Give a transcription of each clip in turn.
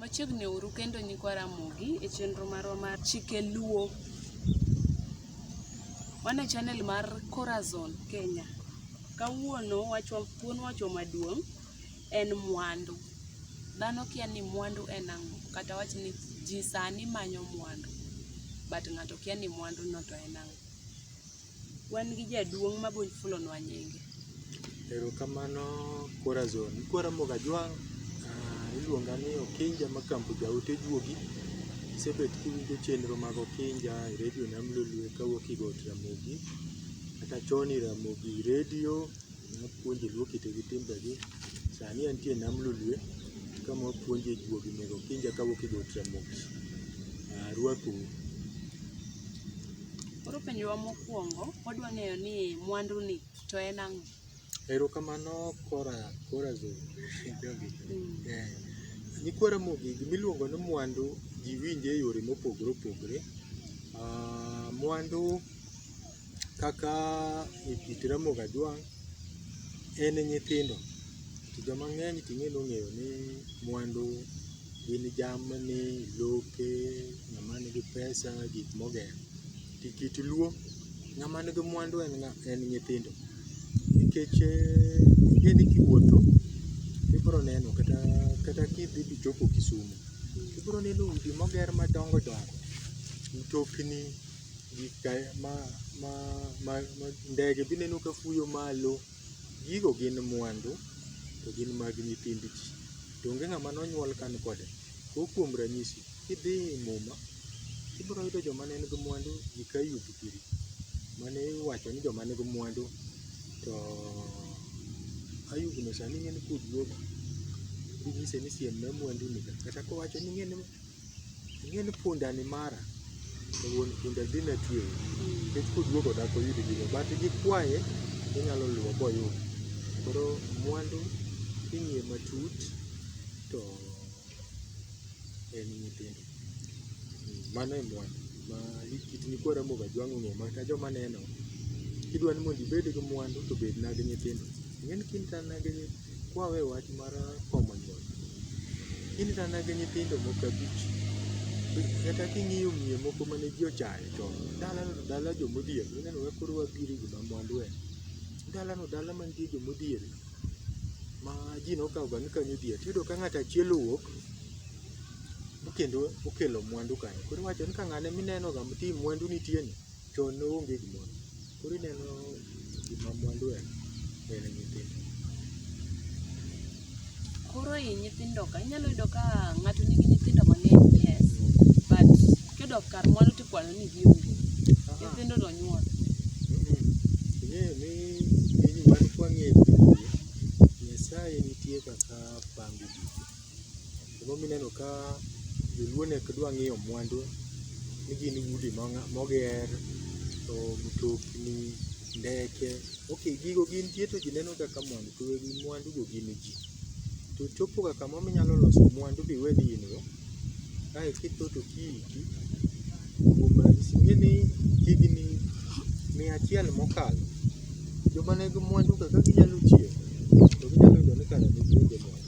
Machiegni uru kendo nyikwa Ramogi e chenro marwa mar Chike Luo. Wan e channel mar Corazon Kenya. Kawuono wachwa thuon wachwa maduong' en mwandu. Dhano kia ni mwandu en ang'o kata wach ni ji sani manyo mwandu but ng'ato kia ni mwandu no to en ang'o. Wan gi jaduong' ma bony fulonwa nyinge. Erokamano Corazon. Ikwaramogo Kajwang', ah, iluonga ni Okinja ma Kambo Jaote Juogi. Isebet kiwinjo chenro mag Okinja e redio Nam Lolwe kawuok Igot Ramogi, kata chon i Ramogi redio. Napuonje luo kite gi timbegi. Sani antie nam lolwe kama wapuonje juogi nego okinja kawuok e got Ramogi. Arwakou. Koro penjowa mokwongo, wadwa ng'eyo ni mwandu ni to en ang'o? Erokamano Kora Kora Zo. Jogi. Mm. Eh, Nyikwa Ramogi gimiluongo ni mwandu ji winje e yore mopogore opogore. Ah, Mwandu Kaka e kit Ramogi Ajwang' en e nyithindo to joma ng'eny to ing'e ni ong'eyo ni mwandu gin jamni, lope, ng'ama nigi pesa, gik mogero. To e kit Luo, ng'ama nigi mwandu en ng'a, en nyithindo. Nikech ing'e ni kiwuotho to ibiro neno kata kata ka idhi dhi chopo Kisumo to ibiro neno udi moger madongo dongo, mtokni. ndege be ineno ka fuyo malo. Gigo gin mwandu to gin mag nyithind ji. To onge ng'ama ne onyuol ka ni kode. Go kuom ranyisi, kidhi e i Muma, ibiro yudo joma ne nigi mwandu eka yudo giri. Mane iwacho ni joma nigi mwandu to Ayub no sani ing'e ni kudruok. Inyise ni siem na mwanduni ka. Kata kowacho ni ing'e ni. Ing'e ni punda ni mara to wuon punda dhi na tweyi nikech koduogo dak oyud gino but gikwaye onyalo luwo boyud. Koro mwandu king'iye matut to en nyithindo. Mano e mwandu ma kit nyikwa Ramogi Ajwang' ong'eyo maka joma neno kidwa ni mondo ibed gi mwandu to bedna gi nyithindo. Ing'e ni kinena gi nyi Kwawe wach mar komo nyuol, in kata mana gi nyithindo moko abich, kata king'iyo miyo moko mane ji ochayo chon, dala no to dala jo modhier, ineno kaka koro wabiro e gima mwandu en. Dala no dala man gi jo modhier ma ji nokawo ga ni kanyo odhier. Tiyudo ka ng'ato achiel owuok to kendo okelo mwandu kanyo. Koro iwacho ni ka ng'ane mineno ga ti mwandu nitie ni, chon ne onge gimoro. Koro ineno gima mwandu en, en nyithindo. Koro i nyithindo ka inyalo yudo ka ng'ato nigi nyithindo mang'eny yes but kidok kar mwandu tikwano ni gionge nyithindo to nyuol Ing'eyo ni piny wan kwang'eyo piny, Nyasaye nitie kaka pango gik Gima omiyo ineno ka joluo ne ok dwa ng'iyo mwandu ni gin udi moger, to mtokni, ndeke, ok gigo gin tie to ji neno ga ka mwandu to weg mwandu go gin ji. To chopo ga kama ma inyalo loso mwandu ma iwe ni in go kae to itho to ki iyiki. Kuom ranyisi ing'e ni higni mia achiel mokalo joma ne nigi mwandu ka ka ginyalo chier to ginyalo yudo ni kare ne gionge mwandu.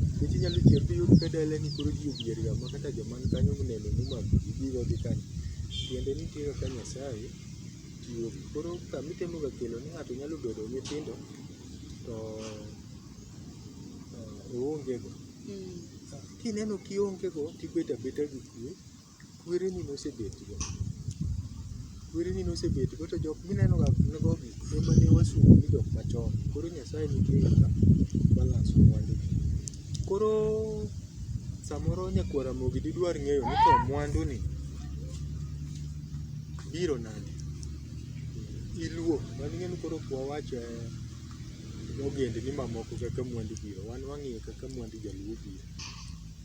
Nikech inyalo tiyo kata iyudo ka dalani koro ji odhier ga ma kata joma ni kanyo mineno momaki gi gige gi kanyo tiende ni nitie kaka Nyasaye chiwo gi. Koro kama itemo ga kelo ni ng'ato nyalo bedo gi nyithindo to oonge go. Kineno kionge go tibet abeta gi kwe. Kwereni nosebetgo, kwereni nosebetgo to jok minenoga gogi ema ne wasuru ni jok machon. Koro Nyasaye nitie ga ka balance mwandu gi. Koro samoro nyakwar Ramogi didwar ng'eyo ni to mwandu ni biro nade? Iluo, mano ing'e ni koro ok wawach ogendni mamoko kaka mwandu biro, wan wang'iyo kaka mwandu jaluo biro.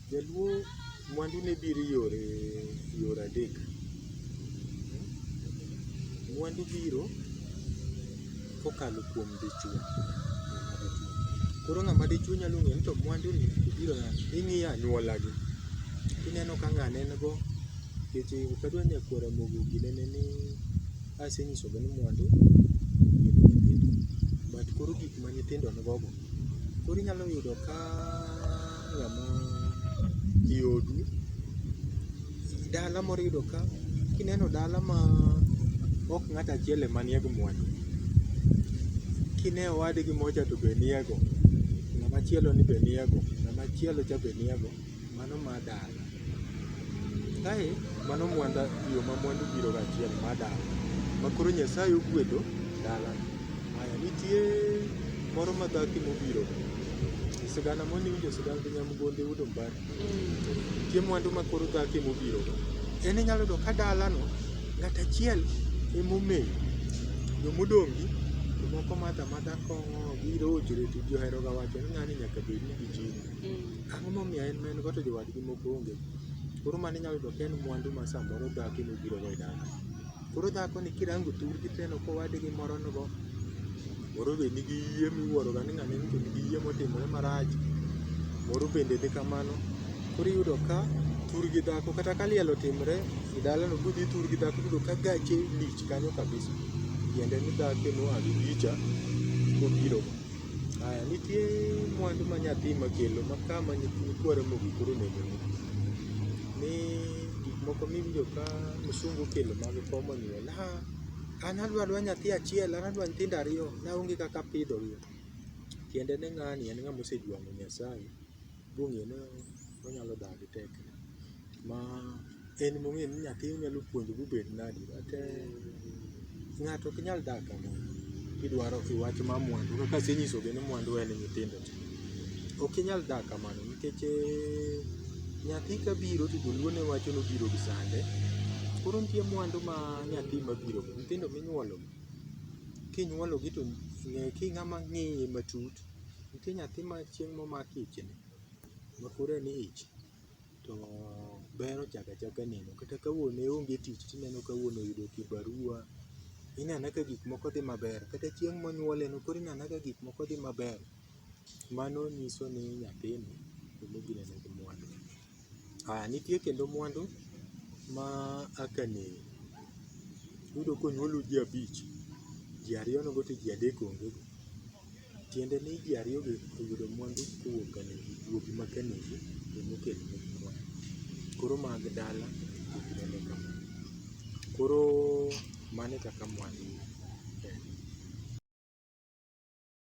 Jaluo mwandu ne biro yore yore adek. Mwandu biro kokalo kuom dichwo. Koro ng'ama dichwo nyalo ng'eyo ni to mwandu ni obiro nade. Ing'iyo anyuola gi. Ineno ka ng'ane en go. Nikech ok adwa nyakwar Ramogi obi nene ni asenyiso gi ni mwandu gin nyithindo. But koro gik ma nyithindo nigo go koro inyalo yudo ka. Ng'ama i odu, dala moro iyudo ka kineno dala ma ok ng'ato achiel ema nie gi mwandu, kine owadgi mocha to be nie go, ng'ama chielo ni be nie go, ng'ama chielo cha be nie go, mano ma dala. Kae mano mwanda yo ma mwandu biro ga achiel ma dala ma koro Nyasaye ogwedho dala. Aya nitie moro ma dhaki mobiro e sigana moni winjo sigana gi nyamgonde yudo mbari. Nitie mwandu ma koro dhaki mobiro go. En inyalo yudo ka dalano ng'at achiel emomeyo jomodong' gi jomoko madha madha kong'o biro ojre to ji oheroga wacho ni ng'ani nyaka bed ni gi jini. Ang'o momiyo en ma en go to jowadgi moko onge? Koro mano inyalo yudo ka en mwandu ma samoro dhako ema obirogo e dala. Koro dhakoni kirango thurgi tineno ka owadgi moro nigo, moro be nigi yie miwuoroga ni ng'ane ni to nigi yie motimore marach, moro bende ni kamano. Koro iyudo ka thur gi dhako kata ka liel otimore e dalano koro idhi ithur gi dhako iyudo ka gache lich kanyo kabisa, tiende ni dhako ema oa gi gicha kobirogo. Aya, nitie mwandu ma nyathi ma kelo ma kama nyithindo kware mogi koro onego ni. Ni gik moko miwinjo ka msungu kelo mag komo ni wala. Ha, an adwa dwa nyathi achiel, an adwa nyithindo ariyo, naonge kaka apidho gi. Tiende ni ng'ani en ng'ama osejwang'o Nyasaye. Bunge no onyalo dak gi tekre ma en mong'eyo ni nyathi onyalo puonjo bobed nadi but ng'ato ok nyal dak kama kidwaro kiwach mar mwandu kaka asenyiso gi ni mwandu en nyithindo te. Ok inyal dak kamano nikech nyathi kabiro to joluo ne wacho ni obiro gi sande. Koro nitie mwandu ma nyathi mabiro go, nyithindo minyuolo gi kinyuolo gi to ng'e king'ama ng'iye matut Nitie nyathi ma chieng' momak ich ni, ma koro en ich to ber ochako achaka neno. Kata ka wuon ne onge tich to ineno ka wuon oyudo kibarua, ineno anena ka gik moko dhi maber. Kata chieng' monyuole no koro ineno anena ka gik moko dhi maber. Mano nyiso ni nyathini onego inene gi mwandu. Aya, nitie kendo mwandu ma a ka neni. Iyudo ka onyuolu ji abich, ji ariyo nogo to ji adek onge go. Tiende ni ji ariyo gi oyudo mwandu kowuok ka negi, wuogi ma ka negi ema okelo negi mwandu. Koro mag dala ok nene kamano. Koro mano e kaka mwandu en.